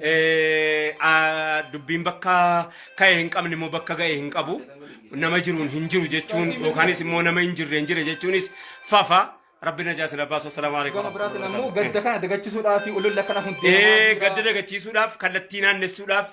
Eh, ah, dubbiin bakka ka'e hin qabne immoo bakka ga'e hin qabu nama jiruun hin jiru jechuun yookaanis immoo nama hin jirre hin jire jechuunis fafa rabbi najaa sila baasu assalaamu alaikum Gama biraatiin ammoo gadda kana dagachisuudhaa fi ololla kana hundee. Eh, gadda dagachiisuudhaaf kallattii naannessuudhaaf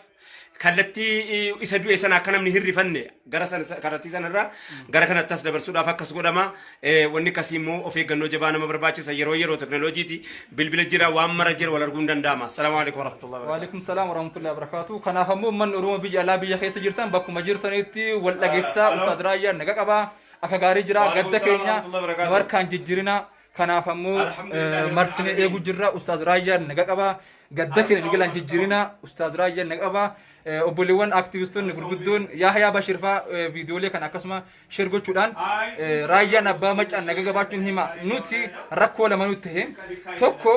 kallattii eh, isa du'e sana akka namni hin rifanne gara sana kallattii sana irraa gara kanatti as dabarsuudhaaf akkas godhama. Eh, Wanni akkasii immoo of eeggannoo jabaa nama barbaachisa. Yeroo yeroo teknooloojiiti bilbila jira waan mara jira wal arguun danda'ama. Salaamu alaikum warahmatullahi wabarakatuh. Waalaikum salaam warahmatullahi wabarakatuh. Kanaaf ammoo uummanni Oromoo biyya alaa biyya keessa jirtan bakkuma jirtanitti wal dhageessaa Halo. Ustaad Raayyaan naga qabaa akka gaarii jira Waalaikum gadda salaam keenya warahmatullahi wabarakatuh. nu harkaan jijjiirina Kanaaf ammoo eh, marsinee eeguu jirra. Ustaaz Raayyaan naga qaba. Gadda keenya migilaan jijjiirina. Ustaaz Raayyaan naga qaba. Eh, Obboleewwan aktivistoonni gurguddoon Yaahayaa Bashir faa eh, viidiyoolee kana akkasuma sheer gochuudhaan eh, raayyaan abbaa macaan naga qabaachuun hima. Nuti rakkoo lama nutti ta'e. Tokko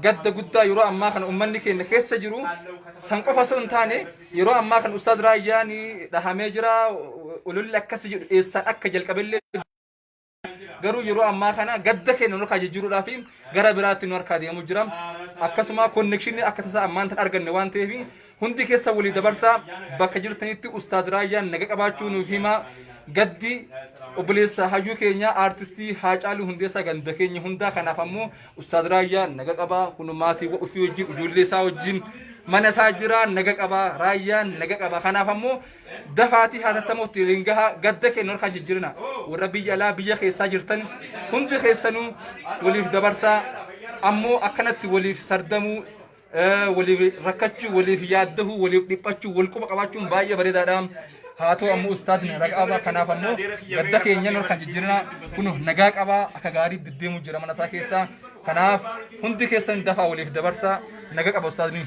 gadda guddaa yeroo ammaa kana uummanni keenya keessa jiru san qofa osoo hin taane yeroo ammaa kana Ustaaz Raayyaan dhahamee jira. Ololli akkasii jedhu eessaan akka jalqabellee garuu yeroo ammaa kana gadda keenya nu harkaa jijjiiruudhaaf gara biraatti nu harkaa deemu jira akkasuma konnekshinii akka tasaa ammaan tan arganne waan ta'eef hundi keessa walii dabarsaa bakka jirtanitti ustaad raayyaan naga qabaachuu nuuf himaa gaddi obboleessa hayyuu keenya aartistii haacaaluu hundeessaa ganda keenya hundaa kanaaf ammoo ustaad raayyaa naga qabaa kun maatii ofii wajjin ijoollee isaa wajjin mana isaa jira naga qabaa raayyaan naga qabaa kanaaf ammoo dafaatii haatattamootti waliin gahaa gadda keenya harkaa jijjiirina warra biyya alaa biyya keessaa jirtan hundi keessanuu waliif dabarsaa ammoo akkanatti waliif sardamuu eh, waliif rakkachuu waliif yaaddahuu waliif dhiphachuu wal quba qabaachuun baay'ee bareedaadha haa ta'u ammoo ustaadni nagaa qabaa kanaaf ammoo gadda keenya harkaan jijjiirina kun nagaa qabaa akka gaarii deddeemuu jira mana isaa keessaa kanaaf hundi keessan dafaa waliif dabarsaa nagaa qaba ustaadni.